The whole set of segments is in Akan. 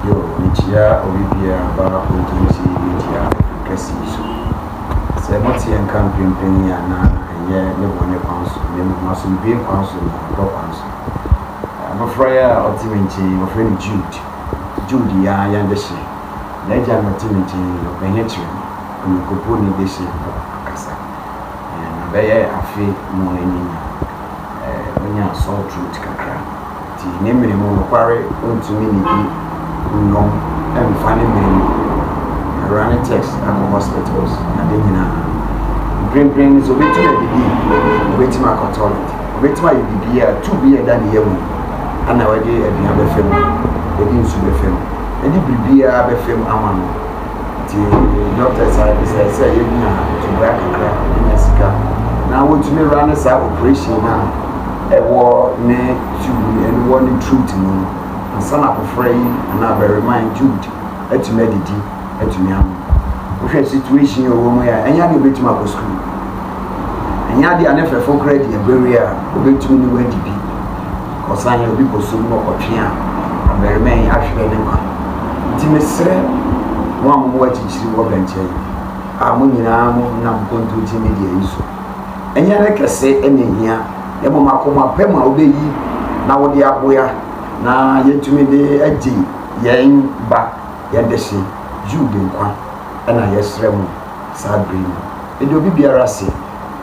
Yo, mikyia obi biara ba ogyinti mikyia kɛse so. Sɛ moteɛ nka mprempren yi a na ɛnyɛ me bɔne kwan so na mmom asomdwoe kwan so na ɔdɔ kwan so. Abofra yi a ɔte me nkyen yi wɔfrɛ no Jude. Jude yɛ ara yɛn dehye. N'agya na ɔte me nkyen yi, ɔpɛ he kyere me. Ɔnkonko ne dehye ho akasa. Yɛn na bɛyɛ afe mu a ɛnye nya. Onya sore throat kakra. Nti ne mene mu nokware ontumi nnidi nnom mmfa ne mene mu Awura ne text akɔ hospitals ade nyinaa Mprempren no sɛ obetumi adidi obetumi akɔ toilet obetumi ayɛ biribiara a tube yi a ɛda ne yam yi ɛna wɔde aduan bɛfa mu yɛde nsu bɛfa mu yɛde biribiara bɛfa mu ama no Ntsi doctors a ebisa yɛ sɛ yenya tubaa kakra yenya sika na wotumi wura ne saa operation no a ɛwɔ ne tube no ɛne wɔ ne throat mu no ansa na abofra yi anaa abarimaa yi tube atumi adidi atumi ano. Wohwɛ situation a ɔwɔ mu yi a ɛnyɛ adeɛ obetumi akɔ sukuu ɛnyɛ adeɛ a ne fɛfo koraa di abawie a obetumi ne wadi bi. Ɔsan yɛ obi bosom na ɔkɔtwe a, ɔbarima yi ahwere ne nkwa. Nti mesrɛ mo a mowɔ akyikyiri wɔ bɛnkyɛn a mo nyinaa mo nam kontonkye media yi so. Ɛnyɛ ne kɛse na ehia na mmom akoma pa mu a wobɛyi na wode aboa na yɛatumi de agye yɛn ba, yɛn dehye Jude nkwa na yɛsrɛ mo saa bere yi. Meda obi biara ase.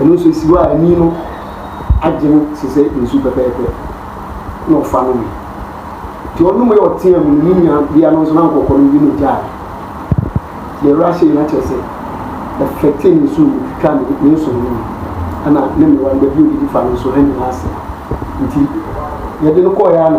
Ɛno nso esi hɔ a ani no agye no te sɛ nsu pɛpɛɛpɛ, na ɔfa nomee. Nti ɔnomee a ɔteaa mu no, ne nuabea no nso na anka ɔkɔ no bi na ogyae. Deɛ awura hyɛ yi na kyerɛ sɛ ɛfɛte ne su no twitwa ne ne nsono no mu ɛna ne mmerewa no baabi a odidi fa no nso ɛne no asɛe. Nti yɛde no kɔeɛ a na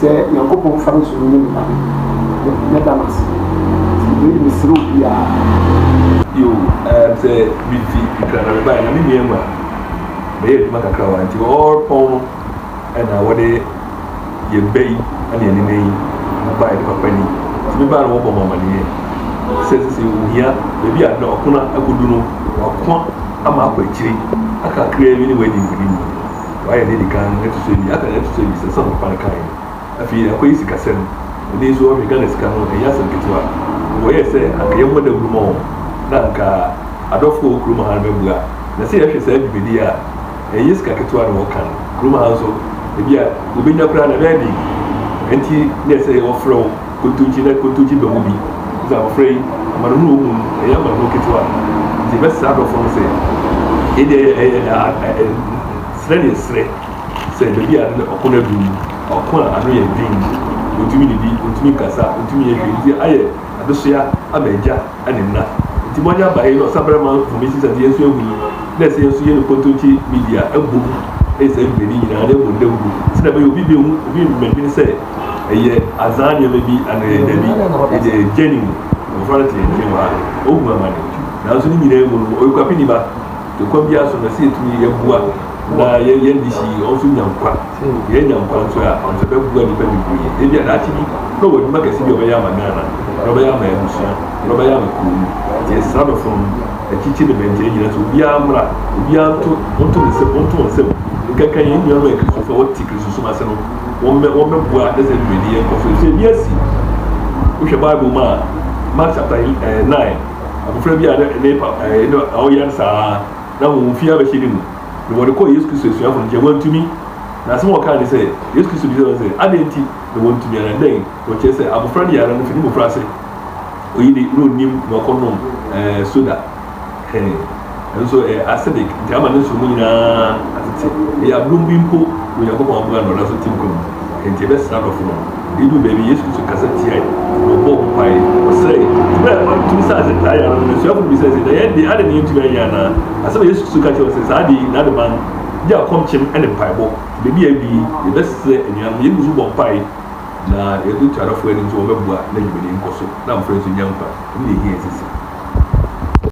Sɛ Nyankopɔn fa no so no nyim kwan no, mɛda no ase, ntsi wei de meserɛ obiara. Yo, ehm, sɛ mifi Accra na mebae na me nua emu a, meyɛ edwuma kakra wɔ ha ntsi ɔwɔ pɔn no na wɔde yɛn bɛ yi na ɛnenɛ yi bae no papa ni ntsi mebae no wɔbɔ me amaneyɛ sɛ sesei ohia beebi a nna ɔpon akodu no wɔako ama akɔ akyiri aka kakraa bi ne wɔadi nkunim. Wayɛ nea edi kan no, ɛto so abien, aka nea ɛto so abiɛsa, san ɔkɔ kan kae no. Afei akɔyɛ sikasɛm. Ɛnnɛ yi nso wɔhwɛ Ghana sika no, ɛnyɛ asɛm ketewa. Nkɔyɛɛ sɛ anka yɛmmɔ dawuru mma wɔn, na anka adɔfo a wɔwɔ kurom ha no bɛboa. Na sɛ yɛhwɛ saa dwumadi yi a, ɛnyɛ sika ketewa na wɔka no. Kurom ha nso, ebia wobenya koraa no, ɛbɛyɛ den. Enti na ɛsɛ sɛ wɔfrɛ wo. Kotodwe na kotodwe ba mu bi. Dza abofra yi amanehunu a ohu no, ɔyɛ amanehunu ketsewa. Ntsi ebɛsera adɔfo no sɛ, Yɛde serɛ na yɛserɛ sɛ beebi a nna ɔko no adu no, ɔko a ano yɛ dzen mu, onntumi nnidi, onntumi nnkasa, onntumi nnyɛ hwee, ntsi ayɛ adesoa ama egya na nna. Ntsi ma ɔnyɛ abaɛe na ɔsabarmma mfom esian dza hɛn so yehu yi, na ɛsɛ hɛn so yɛne kotodwe media bɔ mu yɛ saa dwumadzi nyina na yɛbɔ ndawur, dze dɛm yɛ a obi bennhu, obi mmbɛdwen sɛ, Eyɛ azaa nneɛma bi anaa eyɛ dabi, edɛ egya ne mu, mmɔfra no te nkyɛn hɔ a, ohu amane. Nanso ne nyinaa mu no, ɔyɛ okuapeni ba. Nti kwan biara so no, sɛ yɛtumi yɛboa na yɛ yɛn de si wɔn so nya nkwa, yɛ nya nkwa nso a, ɔno nso ɛbɛboa nnipa bebree. Ebia daakye bi na ɔwɔ adwuma kɛse bi a ɔbɛyɛ ama Ghana, na ɔbɛyɛ ama abusua, na ɔbɛyɛ ama kuro no. Nti yɛsra no fam, akyikyi ne bɛnkyɛ, yɛn nyinaa sɛ obiara mmra, obiara nto, ɔnto ne nsam, ɔnto wɔn nsam nkanka yɛn nuanom a yɛ Kristofo a wɔte Kristosom ase no. wɔmmɛ wɔmmɛboa ne sɛ dwumadi yɛ nkɔ so. Efisɛ ebi asi. Wohwɛ Bible mu a, Mark chapter ɛɛ eh, nine, abofra bi a ne ne pa ɛɛ eh, ne a ɔyare saa na wɔn fi abɛhyɛ ne mu, na wɔde kɔɔ Yesu Kristo asuafo no nkyɛn, wɔntumi. Na asɛm a wɔkaa ne sɛ, Yesu Kristo bisaa wɔn sɛ, adɛn nti na wɔntumi ara? Dɛn? Wɔkyerɛ sɛ abofra no yare no fi ne mmofraase. Oyi de, na onnim na ɔkɔnom ɛɛ eh, soda. He, ɛno nso ɛyɛ acidic nti ama ne nsuomu nyinaa atete ɛyɛ abrom bi mpo na onyankopɔn aboa no ɔda so te nkwa mu nti ɛbɛsra adɔfo no ɛdu baabi yesu kristo kasa tiae na ɔbɔɔ ho mpae ɔsrɛe nti berɛ a ɔtumi saa sɛ taa yare no n'asuafo no bisa sɛ na yɛn de ade ne yɛntumi anyɛ anaa asɛm a yesu kristo ka kyerɛ sɛ saa de yi n'ade ban gye akɔmkyem ne mpaebɔ nti baabi a ɛdu yi yɛbɛsrɛ anuanom yɛgu so bɔ mpae na yɛde to adɔfo anim sɛ wɔbɛboa na dwumadi nkɔ so na mmɔfra nso nya nkwa ɛno na ɛhia sisi